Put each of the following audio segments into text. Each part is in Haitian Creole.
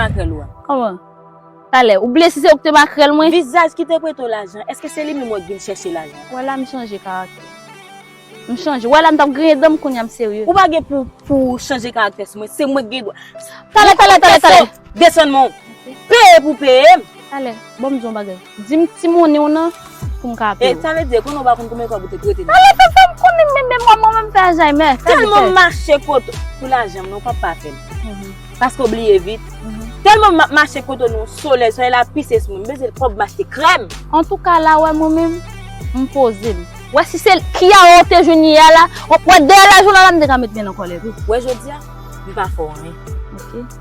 makrèl ou a? Kòman? Talè, ou bliye si se ou ki te makrèl mwen? Vizaj ki te prete w lajan, èske se li menm ou an ki vin chèche lajan? Wè la m chanje karaktè. M chanje. Wè la m t ap griyen dan m kounye a m serye. Ou pa gen pou pou w chanje karaktè sou mwen, se mwen ki gen dwa. Talè, talè, talè, talè! Desann men w. Peye pou w peye m. Talè, ban m di w yon bagay. Dim ti monnen w nan pou m ka aple w. E sa vle di konnen w pa konn konbyen fwa pou te prete nan. Pale tou fè m konnin men men mwa mwen menm fè Alzheimer. Telman m mache kot ou pou lajan m nan w pap pa fè m. Paske w bliye vit. Telman m ap mache kot ou nan solèy solèy la ap pise sou mwen m bezwen kob m achte krèm. Antouka la wè mwen menm m poze m. Wè si se Kiara w te jwenn yè a la wè dèyè la jounal la m te ka met men nan kòlèt ou. Wè jodia m pa fè w anyen. Ok.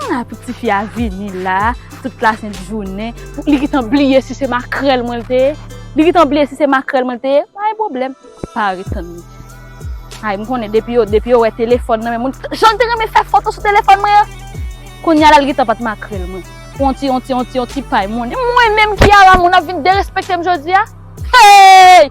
Humm apik tifi a vini la tout la sent jounen pou li gentan bliye si se makrèl mwen te ye li gentan bliye si se makrèl mwen te ye pa gen problèm pa ret tann li ay m konnen depi yo depi yo wè telefòn nan men moun jan l te renmen fè foto sou telefòn mwen an kounya la li gentan pat makrèl mwen pou on ti on ti on ti on ti pay moun mwen menm ki a la moun ap vin derespekte m jodi a heyy.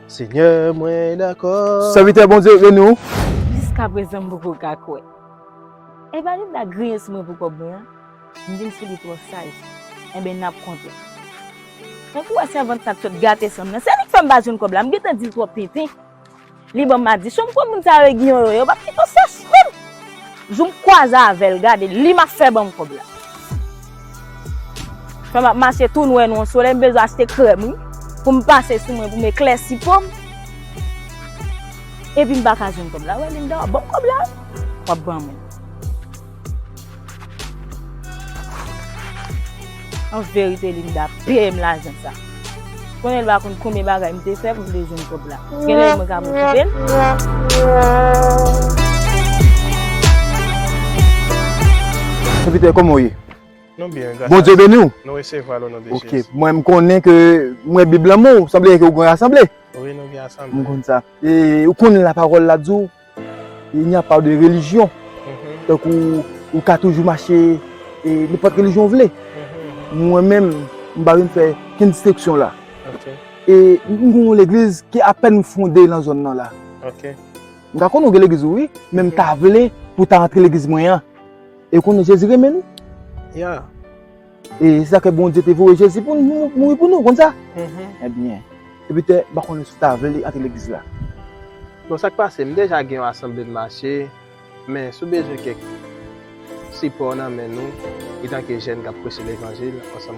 Senyè mwen dakò. Sèvitè Bondye beni w. Jiskaprezan m poko ka kwè. Epa li m ta griyen sou mwen pou kòb mwen an, m vin sou li twò saj. Enben n ap kontan. Tankou wè sèvant sa k sot gate san m nan. Se li k fè m pa jwenn kòb la. M gentan di l twòp tenten. Li ban m madichon. M konn moun sa yo e giyon yo ye. Yo p ap kite w sèch frè m. Jou m kwaze avèl gade li map fè banm kòb la. Fè map mache tou nwè non solèy m bezwen achte krèm wi pou m pase sou mwen pou m eklèsi po m epi m paka jwenn kòb la wè Linda wap banm kòb la wap banm wi. An verite Linda peyem lajan sa. Konnen l pa konn konbyen bagay m te fè pou m te jwenn kòb la. Genlè mwen ka pwofitel. Sèvitè kòman w ye? Nou byen gras a Dye. Bondye beni w? Nou resevwa l o non de Jezi. Ok. Mwen m konnen ke m wè bib lan men w sanble ke w gen yon asanble. Wi nou gen asanble. M konn sa. E ou konn lapawòl la di w. Il n'y a pas de religion. Donk ou, ou ka toujou mache e nenpòt relijyon ou vle. Mwen menm, m pa vin fè kenn disteksyon la. E m gen yon legliz ki apèn fonde nan zòn nan la. M ta konnen ou gen legliz ou wi, men m ta vle pou w ta antre legliz mwen an. E w konnen Jezi renmen nou. E se sa ke Bondye te voye Jezi pou mouri pou nou, ou konn sa? Ebyen, depi te, m pa konnen si w ta vle antre legliz la. Bon, sa k pase, m deja gen yon asanble m mache, men si w bezwen kèk sipò nan men nou, etanke jèn k ap preche levanjil ansanm.